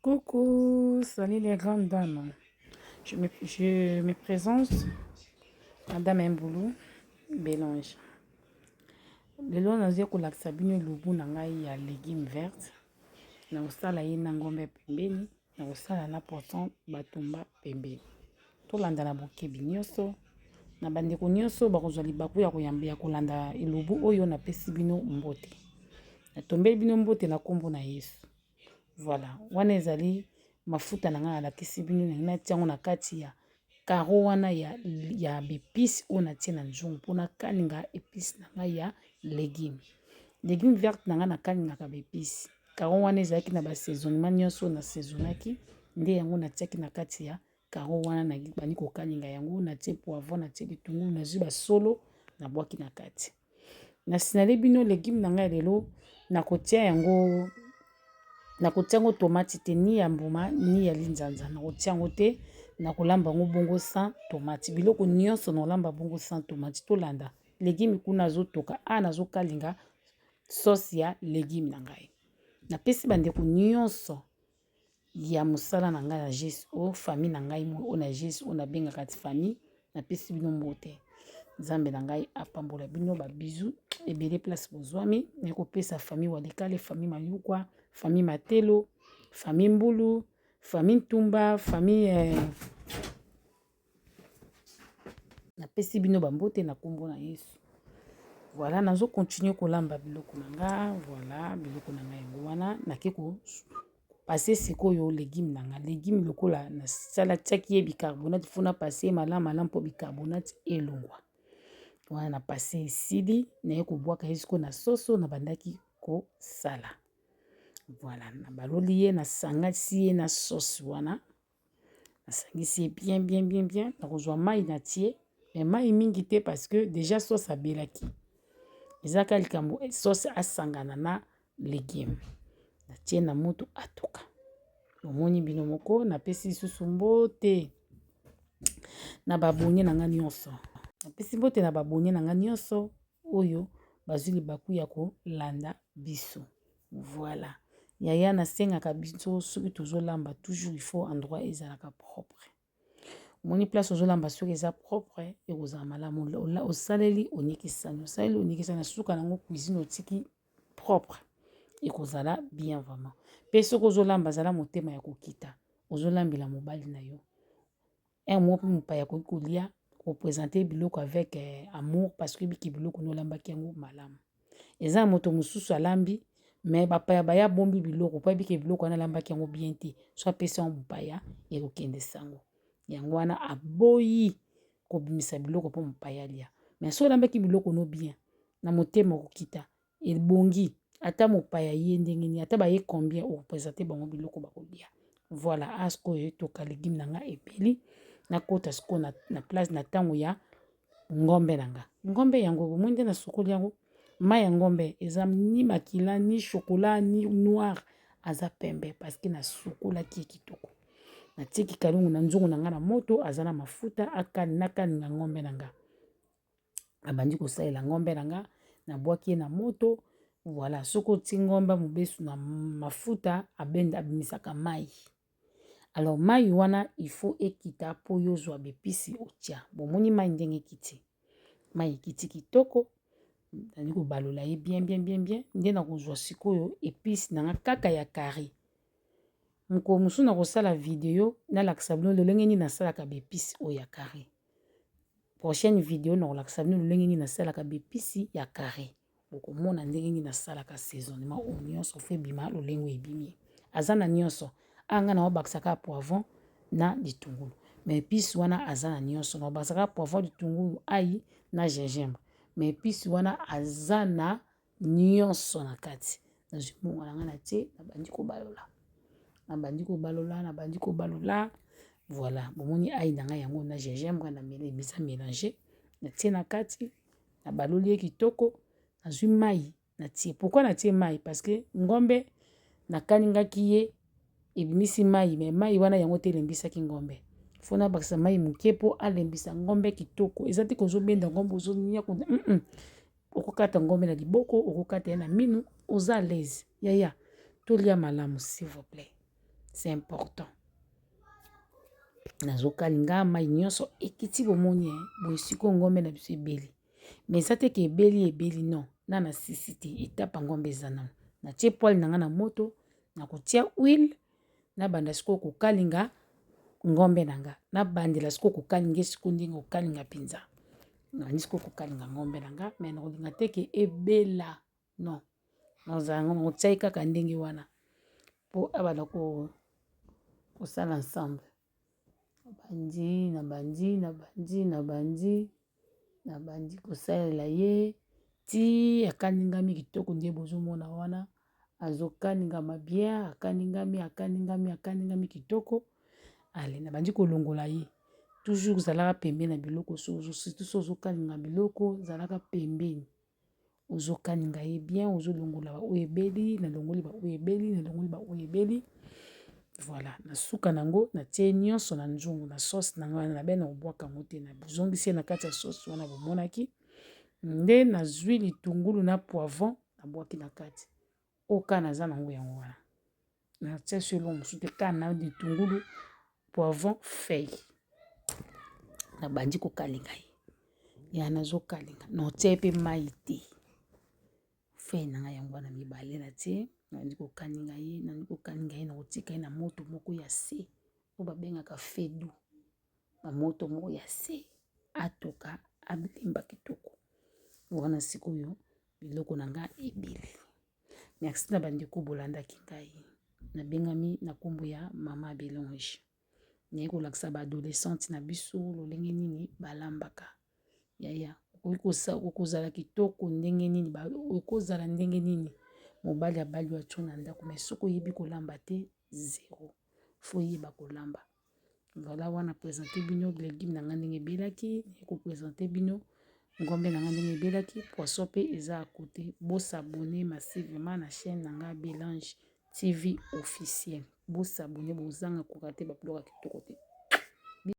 Coucou, salut les grandes dames. Je me, je me présente, Madame Mboulou Bélange. lelo nazali kolakisa bino lubu na ngai ya légume verte nakosala ye na ngombe pembeni nakosala na poisson batumba pembeni Tolanda na bokebi nyonso na bandeko nyonso bakozwa libaku ya koyamba ya kolanda elubu oyo napesi bino mbote. Natombeli bino mbote na nkombo na Yesu. Voilà, wana ezali mafuta na ngai alakisi bino ndenge natia yango na kati ya karo wana ya, ya bepisi oyo natie na nzungu mpo nakalinga episi na ngai ya legume legume verte na ngai nakalingaka bepisi karo wana ezalaki na basaisonnement nyonso na saisonaki nde yango natiaki na kati ya Carreau wana na bandi kokalinga yango natie poivron natie litungulu nazwi basolo na bwaki na kati na sinale bino legume na ngai lelo nakotia yango nakotia yango tomati te ni ya mbuma ni ya linzanza nakotia yango te nakolamba yango bongo sans tomati biloko nyonso nakolamba bongo sans tomati tolanda legume kuna azotoka a nazokalinga sauce ya legume na ngai napesi bandeko nyonso ya mosala na ngai na GSO, famille na ngai oyo na GSO oyo nabengaka ti famille, napesi bino mbote. Nzambe na ngai apambola bino ba bisous ebele place bozwami, naye kopesa famille Walikale, famille Mayukwa, famille Matelo, famille Mbulu, famille Ntumba, famille eh, Napesi bino ba mbote na kombo na Yesu. Voilà, nazo continuer kolamba biloko na nga, voilà biloko na nga yango wana nake ko passer sikoyo legume na nga. Legume lokola nasala tiaki ye bicarbonate faut na passer malamu malamu mpo bicarbonate elongwa. Wana na passer esili naye kobwaka ye sikoyo na soso nabandaki kosala. Voilà, nabaloli ye nasangasi ye na sauce wana. Nasangisi ye bien bien bien bien nakozwa mayi na tie mais mayi mingi te parce que dejà sauce abelaki eza kaka likambo sauce asangana na legume natie na mutu atuka bomoni bino moko napesi lisusu mbote na ba abonne na nga nionso napesi mbote na ba abonne na nga nionso oyo bazui libaku ya kolanda biso. Voilà yaya na sengaka biso soki tozo lamba toujours il faut endroit ezalaka propre omoni place ozo lamba soki eza propre ekozala malamu osaleli onikisani osaleli onikisani na suka nango cuisine otiki propre ekozala bien vraiment mpe soki ozolamba zala motema ya kokita ozolambela mobali na yo Heure moko mpe mopaya akoki kolia kopresente biloko avec eh, amour parce que biki biloko nolambaki yango malamu eza na moto mosusu alambi me bapaya baya abombi biloko mpo ayebike biloko wana alambaki yango bien te so apesi yango mopaya ekokende sango yango wana aboyi kobimisa biloko mpo mopaya alia me so olambaki biloko no bien na motema okokita ebongi ata mopaya aye ndenge nini ata baye combien o representer bango biloko bako lia voila awa sikoyo etoka legume na nga ebeli nakota sikoyo na place na tango ya ngombe na nga ngombe yango bomoni nde nasokoli yango mayi ya ngombe eza ni makila ni chocolat ni noir aza pembe parce que nasukolaki ye kitoko natie kikalungu na nzungu na nga na moto aza na mafuta akani nakani na ngombe na nga. nabandi kosalela ngombe na nga nabwaki ye na moto voilà soki otie ngombe mobesu na mafuta abenda abimisaka mai alors mai wana il faut ekita mpo yo ozwa bepisi otya bomoni mai ndenge ekiti mai ekiti kitoko nali kobalola ye bien bien bien bien nde nakozwa sikoyo episi na nga kaka ya carré mokolo mosusu nakosala video nalakisa bino lolenge nini nasalaka bepisi oyo ya carré Prochaine video na kolakisa bino lolenge nini nasalaka bepisi ya carré. Bokomona ndenge nini nasalaka saisonnement oyo nyonso fo ebima lolenge oyo ebimi. Aza na nyonso. Awa ngai naobakisa kaka poivron na litungulu. Mais epice wana aza na nyonso. Naobakisa kaka poivron, litungulu, ail na gingembre. Mais epice wana aza na nionso na kati nazwi mbongo na ngai natie nabandi kobalola nabandi kobalola nabandi kobalola voilà bomoni ail na ngai yango na gingembre na meli eza melange natie na kati nabaloli ye kitoko nazwi mai natie pourkua natie mai parce que ngombe nakalingaki ye ebimisi mai me mai wana yango te elembisaki ngombe faut nabakisa mai moke po alembisa ngombe kitoko eza te kozobenda ngombe ozoniokolo. okokata ngombe na liboko okokata ye na minu oza alaise yaya tolia malamu s'il vous plaît c'est important nazokalinga mai nyonso ekiti bomoni eh, boye sikoyo ngombe na biso ebeli me eza te ke ebeli ebeli non na na sisi te etapa ngombe eza nano natie poile na ngai na moto nakotia huile Nabanda sikoyo kokalinga ngombe na nga nabandela sikoyo kokalinga ye sikoyo ndenge kokalinga mpenza nabandi sikoyo kokalinga ngombe na nga me nakolinga te ke ebela non nazala ngo nakotia ye kaka ndenge wana po abanda kosala ensemble. Nabandi, nabandi, nabandi, nabandi, nabandi kosalela ye tii akaningami kitoko nde bozomona wana azokaningama bien akaningami akaningami akaningami kitoko ale nabandi kolongola ye toujours zalaka pembeni na biloko surtout soki ozokalinga biloko zalaka pembeni. ozo kaninga ye bien ozo longola ba oyo ebeli na longoli ba oyo ebeli na longoli ba oyo ebeli voilà na suka na yango na tie nionso na nzungu na sauce na ngai na bene obwaka yango te na zonguisi ye na kati ya sauce wana bomonaki nde nazwi litungulu na poivron na bwaki na kati oyo kaka naza na yango yango wana. natia so eloko mosusu te kaka na litungulu poivron feuille nabandi kokalinga ye ya nazokalinga naotia ye mpe mai te feuille na ngai yango wana mibale natie nabandi kokalinga ye nabandi kokalinga ye nakotika ye na moto moko ya se oyo babengaka fedu na moto moko ya se atoka abilemba kitoko wana sikoyo biloko na ngai ebele Merci na bandeko bolandaki ngai. Nabengami na nkombo ya mama Belonge. Naye kolakisa ba adolescente na biso lolenge nini balambaka. Yaya, okozala kitoko ndenge nini, okozala ndenge nini mobali abali yo atyo na ndako, mais soki oyebi kolamba te zero. Faut oyeba kolamba. Voilà wana na presente bino legume na ngai ndenge ebelaki eko presente bino ngombe na ngai ndenge ebelaki poisson mpe eza à kote bosabone massivema na chaîne na ngai belange tv officiel bosabone bozanga kokate babiloko ya kitoko te